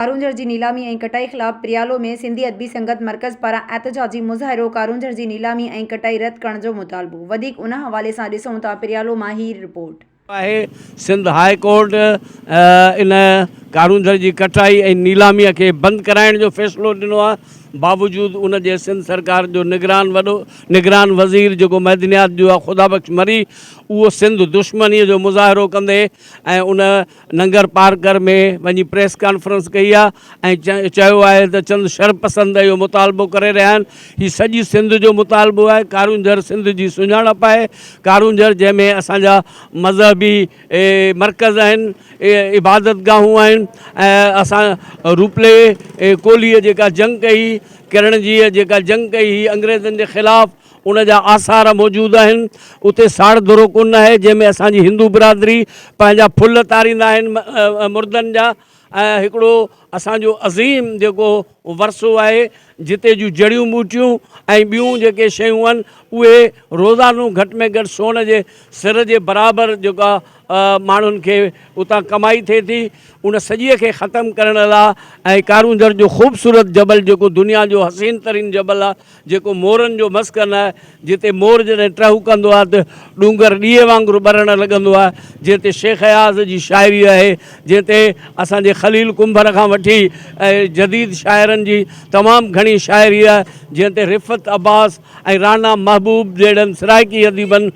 ڪارونجهر جي نيلامي ۽ ڪٽائي خلاف پريالو ۾ سنڌي ادبي سنگت مرڪز پاران احتجاجي مظاهرو، ڪارونجهر جي نيلامي ۽ ڪٽائي رد ڪرڻ جو مطالبو. وڌيڪ ان حوالي سان ڏسون ٿا پريالو مان هي رپورٽ. آهي، سنڌ هاء ڪورٽ ان ڪارونجهر جي ڪٽائي ۽ نيلامي کي بند ڪرائڻ جو فيصلو ڏنو آهي، باوجود ان جي سنڌ سرڪار جو نگران وڏو نگران وزير جيڪو معدنيات جو آهي خدا بخش مري اهو سنڌ دشمني جو مظاهرو ڪندي ۽ ان ننگر پارڪر ۾ وڃي پريس ڪانفرنس ڪئي آهي ۽ چيو آهي ته چند شرپسند اهو مطالبو ڪري رهيا آهن، هي سڄي سنڌ جو مطالبو آهي، ڪارونجهر سنڌ جي سڃاڻپ آهي، ڪارونجهر جنهن ۾ اسان جا مذهبي مرڪز آهن، عبادت گاهون آهن ۽ اسان روپلي ڪولهيء جيڪا جنگ ڪئي هئي، ڪرڻجيء جيڪا جنگ ڪئي هئي انگريزن جي خلاف، ان جا آثار موجود آهن. اتي ساڙ درو ڪونه آهي، جنهن ۾ اسان جي هندو برادري پنهنجا ڦل تاريندا آهن مردن جا ۽ هڪڙو اسان جو عظيم جيڪو ورثو آهي، جتي جون جڙيون ٻوٽيون ۽ ٻيون جيڪي شيون آهن، اهي روزانو گهٽ ۾ گهٽ سون جي سر جي برابر جيڪا ماڻهن کي اتان ڪمائي ٿئي ٿي. ان سڄيء کي ختم ڪرڻ لا ۽ ڪارونجهر جو خوبصورت جبل جيڪو دنيا جو حسين ترين جبل آهي، جيڪو مورن جو مسڪن آهي، جتي مور جڏهن ٽهو ڪندو آهي ته ڏونگر ڏيئي وانگر ٻرڻ لڳندو آهي، جنهن تي شيخ اياز جي شاعري آهي، جنهن تي اسان جي خليل ڪنڀر کان وٺي جديد شاعرن جي تمام گهڻي شاعري آهي، جنهن تي رفعت عباس ۽ رانا محبوب جهڙن سرائڪي اديبن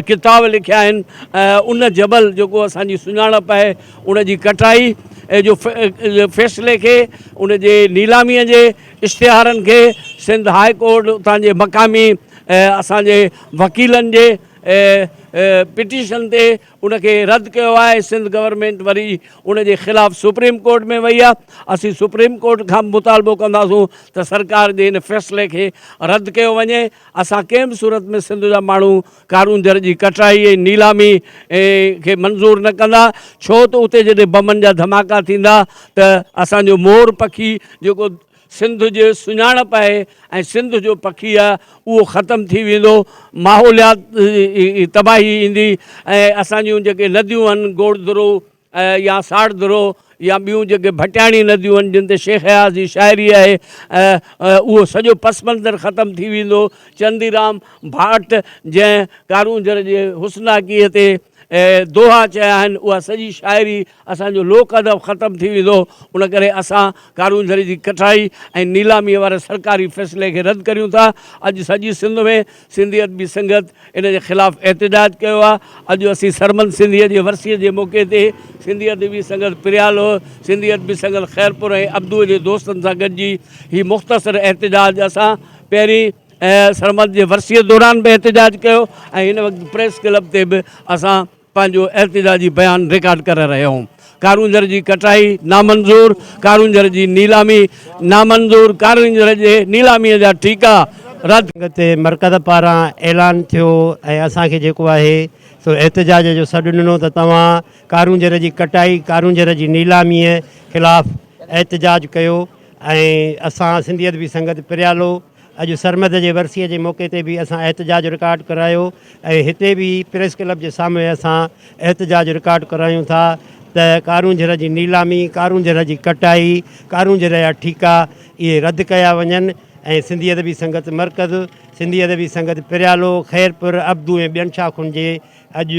ڪتاب لکيا آهن، ان جبل جيڪو اسان جي سڃاڻپ آهي، ان جي ڪٽائي جو فيصلي کي ان جي نيلاميء جي. اشتهارن کي سنڌ هاء ڪورٽ اتان جي مقامي اسان جي وڪيلن جي پٽيشن تي ان کي رد ڪيو آهي سنڌ گورنمينٽ وري ان جي خلاف سپريم ڪورٽ ۾ وئي آهي اسين سپريم ڪورٽ کان مطالبو ڪنداسون ته سرڪار جي ان فيصلي کي رد ڪيو وڃي اسان ڪنهن به صورت ۾ سنڌ جا ماڻهو ڪارونجهر جي ڪٽرائي ۽ نيلامي کي منظور نه ڪندا ڇو ته اتي جڏهن بمن جا ڌماڪا ٿيندا ته اسان جو مور پکي جيڪو سنڌ جي سڃاڻپ آهي ۽ سنڌ جو پکي آهي اهو ختم ٿي ويندو ماحوليات تباهي ايندي ۽ اسان جون جيڪي نديون آهن گوڙ درو يا ساڙ درو يا ٻيون جيڪي ڀٽياڻي نديون آهن جن تي شيخ اياز جي شاعري آهي اهو سڄو پس منظر ختم ٿي ويندو چنديرام ڀاٽ جنهن ڪارونجهر جي حسناڪيء تي دوها چيا آهن اها سڄي شاعري اسان جو لوڪ ادب ختم ٿي ويندو ان ڪري اسان ڪارونجهر جي ڪٺائي ۽ نيلاميء واري سرڪاري فيصلي کي رد ڪريون ٿا اڄ سڄي سنڌ ۾ سنڌي ادبي سنگت ان جي خلاف احتجاج ڪيو آهي اڄ اسين سرمن سنڌيء جي ورسيء جي موقعي تي سنڌي ادبي سنگت پريالو، سنڌي ادبي سنگت خيرپور ۽ ابدوء جي دوستن سان گڏجي هي مختصر احتجاج اسان پهرين سرمن جي ورسيء دوران به احتجاج ڪيو ۽ هن وقت پريس ڪلب تي به اسان پنهنجو احتجاجي بيان رڪارڊ ڪري رهيو هوم ڪارونجهر جي ڪٽائي نامنظور ڪارونجهر جي نيلامي نامنظور ڪارونجهر جي نيلامي جا ٺيڪا رد تي مرڪز پاران اعلان ٿيو ۽ اسان کي جيڪو آهي سو احتجاج جو سڏ ڏنو ته توهان ڪارونجهر جي ڪٽائي ڪارونجهر جي نيلامي خلاف احتجاج ڪيو ۽ اسان سنڌيت بي سنگت پريالو اڄ سرمد جي ورسيء جي موقعي تي به اسان احتجاج رڪارڊ ڪرايو ۽ هتي به پريس ڪلب جي سامهون اسان احتجاج رڪارڊ ڪرايون ٿا ته ڪارونجهر جي نيلامي، ڪارونجهر جي ڪٽائي، ڪارونجهر جا ٺيڪا اهي رد ڪيا وڃن ۽ سنڌي ادبي سنگت مرڪز، سنڌي ادبي سنگت پريالو، خيرپور، ابدو ۽ ٻين شاخن جي اڄ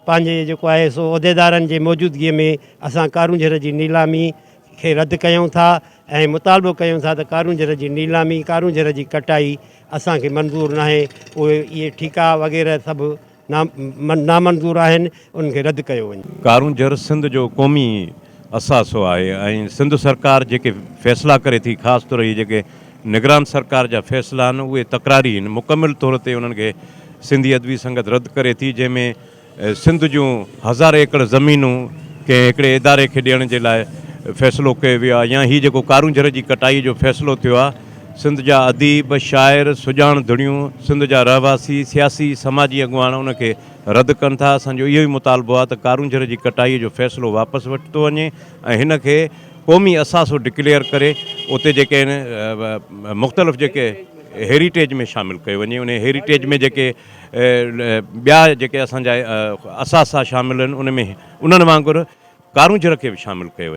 پنهنجي جيڪو آهي سو عهديدارن جي موجودگيء ۾ اسان ڪارونجهر جي نيلامي، کي رد ڪيون ٿا ۽ مطالبو ڪيون ٿا ته ڪارونجهر جي نيلامي، ڪارونجهر جي ڪٽائي اسان کي منظور ناهي، اهي اهي ٺيڪا وغيره سڀ نا نامنظور آهن، انهن کي رد ڪيو وڃي. ڪارونجهر سنڌ جو قومي اثاثو آهي ۽ سنڌ سرڪار جيڪي فيصلا ڪري ٿي خاص طور اهي جيڪي نگران سرڪار جا فيصلا آهن اهي تڪراري آهن، مڪمل طور تي انهن کي سنڌي ادبي سنگت رد ڪري ٿي جنهن ۾ سنڌ جون هزار ايڪڙ زمينون ڪنهن هڪڙي اداري کي ڏيڻ جي لاء فيصلو ڪيو ويو آهي يا هي جيڪو ڪارونجهر جي ڪٽائي جو فيصلو ٿيو آهي سنڌ جا اديب، شاعر، سڄاڻ ڌڻيون، سنڌ جا رهواسي، سياسي، سماجي اڳواڻ ان کي رد ڪن ٿا، اسان جو اهو ئي مطالبو آهي ته ڪارونجهر جي ڪٽائي جو فيصلو واپس ورتو وڃي ۽ هن کي قومي اثاثو ڊڪليئر ڪري اتي جيڪي آهن مختلف جيڪي هيريٽيج ۾ شامل ڪيو وڃي انهي هيريٽيج ۾ جيڪي ٻيا جيڪي اسان جا اثاثا شامل آهن، ان ۾ انهن وانگر ڪارونجهر کي به شامل ڪيو ويو.